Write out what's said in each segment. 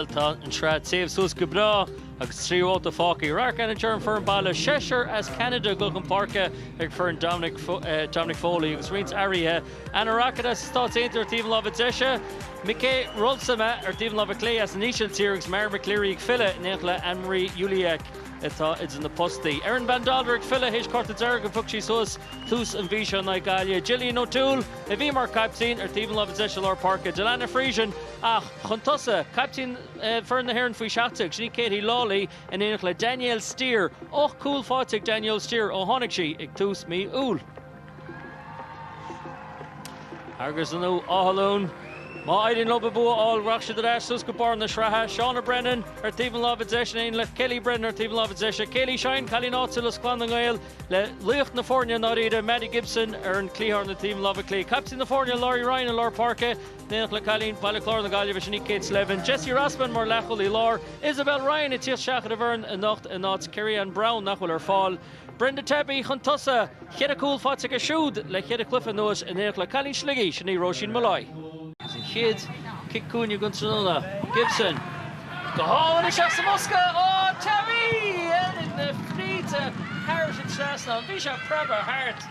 Bhuel, tá an tsraith ag téamh suas go breá agus trí bhabhta fágtha. Radharc ansin ar an bhfoireann baile, seisear as Ceanada ag gabháil chun páirce ag foireann Dominic Foley agus roinnt athruithe, Anna Rockett as na Stáit Aontaithe ar taobh an láimhe deise, Mijke Roelfsema ar taobh an láimhe clé as an Ísiltír agus Mara McCleary ag filleadh in éineacht le Anne-Marie Ulliac atá idir na postaí. Erin Van Dolder ag filleadh théis cárta dearg a phioc sí suas tús an mhí seo in aghaidh Gaillimhe, Jillian O'Toole a bhí mar caiptín ar taobh an láimhe deise lár páirce, Delana Friesen a. Chun tosa, caiptín foireann na hÉireann faoi 17, sin í Katie Lawlee, in éineacht le Danielle Steer. Ocht gcúl faighte ag Danielle Steer ó tháinig sí ag tús mí Iúil. Agus inniu, Áth Luain. Má éiríonn leo bua a fháil, rachaidh siad ar ais suas go barr na sraithe, Shauna Brennan ar taobh an láimhe deise in éineacht le Kellie Brennan ar taobh an láimhe deise. Kayleigh Shine, cailín áitiúil as Clann na nGael, le laoch na foirne i ndáiríre, Madie Gibson ar an cliathán ar taobh an láimhe clé. Caiptín na foirne, Laurie Ryan i lár páirce. In éineacht le cailín Baile Chláir na Gaillimhe, sin í Kate Slevin, Jesi Rossman mar leathchúlaí láir, Isabel Ryan ag tíocht isteach ar an bhfoireann anocht in áit Kerryanne Brown nach bhfuil ar fáil, Brenda Tabe chun tosaigh, cheithre chúl faighte aici siúd le ceithre cluiche anuas, in éineacht le cailín Shligigh, sin í Róisín Molloy. Agus an chéad chic cúinne don tráthnóna, Gibson, go hálainn isteach sa mbosca, ó, Tabe! Oiread na fríde thairis an trasnán, bhí sé preabtha thart.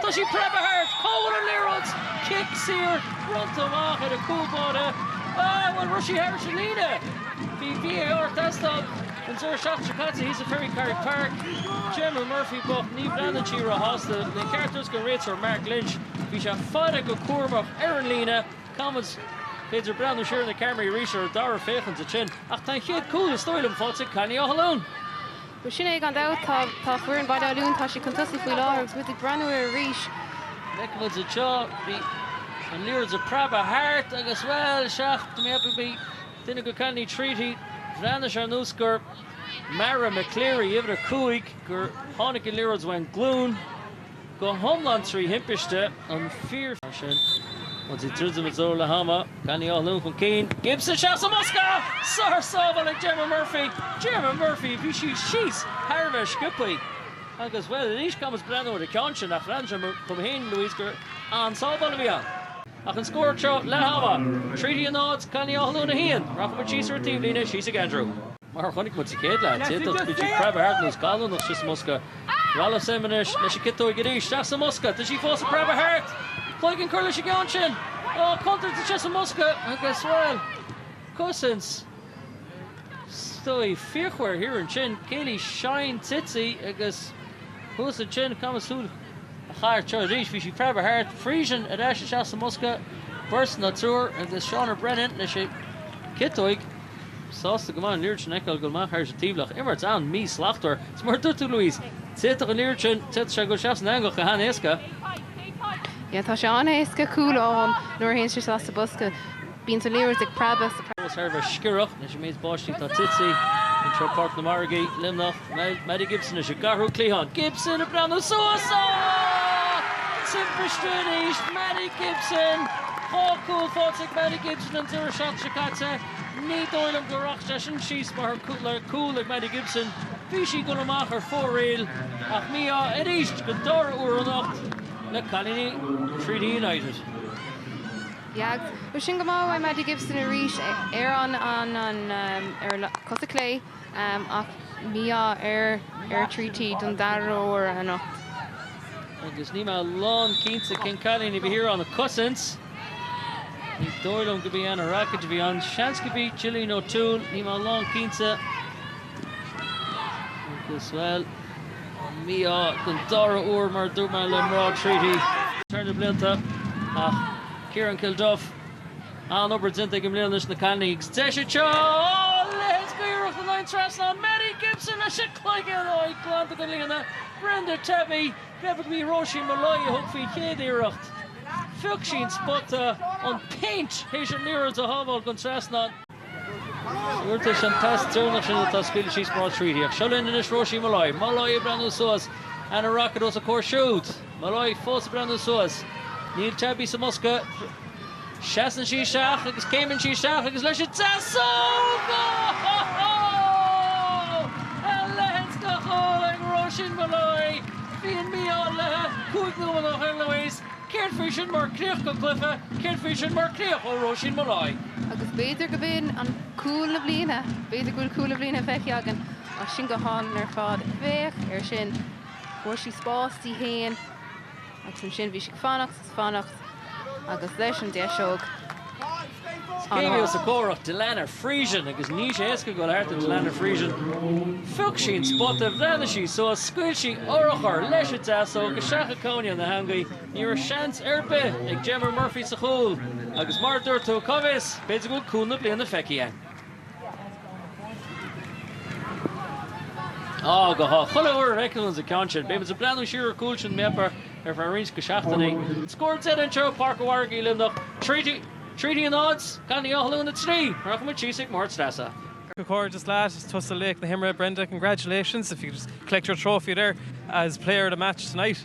Tá sí preabtha thart! Cá bhfuil an liathróid? Cic saor, bronnta amach ar an cúl báire. Ah, bhuel, raibh sí thairis an líne? Bhí VAR ag teastáil. An deireadh seachtaine seo caite thíos i Ferrycarrig Park, Gemma Murphy bocht, ní bhreathnaíonn sí ró-shásta. Le ceart a thabhairt don réiteoir Mark Lynch, bhí sé faire go cúramach ar an líne. Caithfidh muid b'fhéidir breathnú siar ar na ceamaraí arís ar an dara féachaint ansin. Ach tá an chéad cúl, is dóigh liom, faighte ag cailíní Áth Luain. Bhuel, sin é, gan dabht. Tá, tá foireann Bhaile Átha Luain, tá siad chun tosaigh faoi láthair agus muid ag breathnú air arís. Feiceann muid anseo, bhí an liathróid ag preabadh thart agus, bhuel, sea, tá mé ag ceapadh, bhí duine de chailíní Treaty, bhreathnaigh sé ar nós gur Mara McCleary, uimhir a cúig, gur tháinig an liathróid óna glúin. Go hiomlán trí thimpiste an fir. Mar sin, muid ag druidim i dtreo leath ama. Cailíní Áth Luain chun cinn. Gibson isteach sa mbosca! Sársábháil ag Gemma Murphy. Gemma Murphy, bhí sí síos thar a bheith sciobthaí. Agus, bhuel, anois caithfidh muid breathnú ar an gceann sin, ach bhreathnaigh sé dom féin, Louise, gur an-sábháil a bhí ann. Ach an scór seo leath ama. Treaty 0, cailíní Áth Luain 1. Rachaimid síos ar an taobhlíne, síos ag Andrew. Mar a chonaic muid sa chéad leath, d'fhéadfadh sí preabadh thart ar nós gallúnach istigh sa mbosca. Roelfsema anois leis an ciotóig arís. Isteach sa mbosca. Tá sí fós ag preabadh thart. Cloigeann curtha leis an gceann sin. Ó, contúirteach istigh sa mbosca agus, bhuel, cosaint stoí fíochmhar thiar ansin. Kayleigh Shine tite agus thuas ansin, caithfidh muid súil a chaitheamh air seo arís. Bhí sí preabadh thart. Friesen ar ais isteach sa mbosca. Beirt nó triúr agus Shauna Brennan leis an ciotóig. Sásta go maith an liathróid sin a fheiceáil ag dul amach thairis an taobhlach. Imirt an-mhí-shlachtmhar. Is mar a dúirt tú, Louise, d'fhéadfadh an liathróid sin, d'fhéadfadh sé dhul isteach san eangach go han-éasca. Yeah, tá sé an-éasca cúl a fháil nuair a théann sé isteach sa bhosca. Bíonn an liathróid ag preabadh agus tá an féar sciorrach leis an méid báistí atá tite anseo ag Páirc na Margaí, Luimneach. Maddie Gibson leis an gceathrú cliathán, Gibson ag breathnú suas ach timpiste arís, Maddie Gibson! Dhá chúl faighte ag Maddie Gibson an deireadh seachtaine seo caite. Ní dóigh liom go rachaidh sé sin síos mar chúl ag Maddie Gibson. Bhí sí ag dul amach ar fóraoil ach mí-ádh arís don dara huair anocht le cailíní Treaty United. Bhí sin go maith ó Maddie Gibson arís ar an gcos chlé. Ach mí-ádh ar Treaty don dara huair anocht. Agus níl mé lán cinnte cén cailín a bhí thiar ann ag cosaint. Ní dóigh liom gurb í Anna Rockett a bhí ann. Seans gurb í Jillian O'Toole, níl mé lán cinnte. Agus, bhuel, an mí-ádh don dara huair mar a dúirt mé le mná Treaty thar na blianta ach Ciarán Kilduff. An-obair déanta aige i mbliana leis na cailíní agus deis anseo! Ó! A leithéid d'iarracht in aghaidh an trasnán! Maddie Gibson leis an cloigeann! Ó, í glanta gon líne! Brenda Tabe! B'í Róisín Molloy a thug faoin gcéad iarracht. Phioc sí'n spota, an péint, théis an liathróid a shábháil gon trasnán. Iarratais an tasc deireanach sin atá scaoileadh síos mná Treaty. Ach seo linn anois Róisín Molloy. Molloy ag breathnú suas. Anna Rockett os a comhair siúd. Molloy fós ag breathnú suas. Níl Tabe sa mbosca. Seasann sí isteach agus céimeann sí isteach agus leis an deasóg! Ohh! A leithéid de chúl ag Róisín Molloy! Bhí an mí-ádh léi cúig nóiméad ó shin, Louise. Céard faoi sin mar críoch go cluiche? Céard faoi sin mar chríoch ó Róisín Molloy? Agus b'fhéidir go bhfuil an cúl na bliana, b'fhéidir go bhfuil cúl na bliana feicthe againn ansin go hálainn ar fad. Féach air sin. Fuair sí spás di fhéin agus ansin bhí sí ag fanacht. Is fanacht agus leis an deasóg an lá. Céim os comhair Delana Friesen agus níl sé éasca goil thart ar Delana Friesen. Phioc sí an spota, bhreathnaigh sí suas, scaoil sí urchar leis an deasóg isteach i gcúinne na heangaí. Ní raibh seans ar bith ag Gemma Murphy sa chúl agus mar a dúirt tú, cá bhfios, b'fhéidir go bhfuil cúl na bliana feicthe againn. Chuile uair a fheicimid an ceann sin, beimid ag breathnú siar ar an gcúl sin b'fhéidir ar feadh roinnt go seachtainí. Scór deiridh anseo i bPáirc an Mhargaidh i Luimneach, Treaty a náid, Baile Átha Luain a trí. Rachaimid síos ag Máire Treasa. Comhghairdeas leat, is tusa laoch na himeartha Brenda, congratulations, if you could just collect your trophy there as player of the match tonight.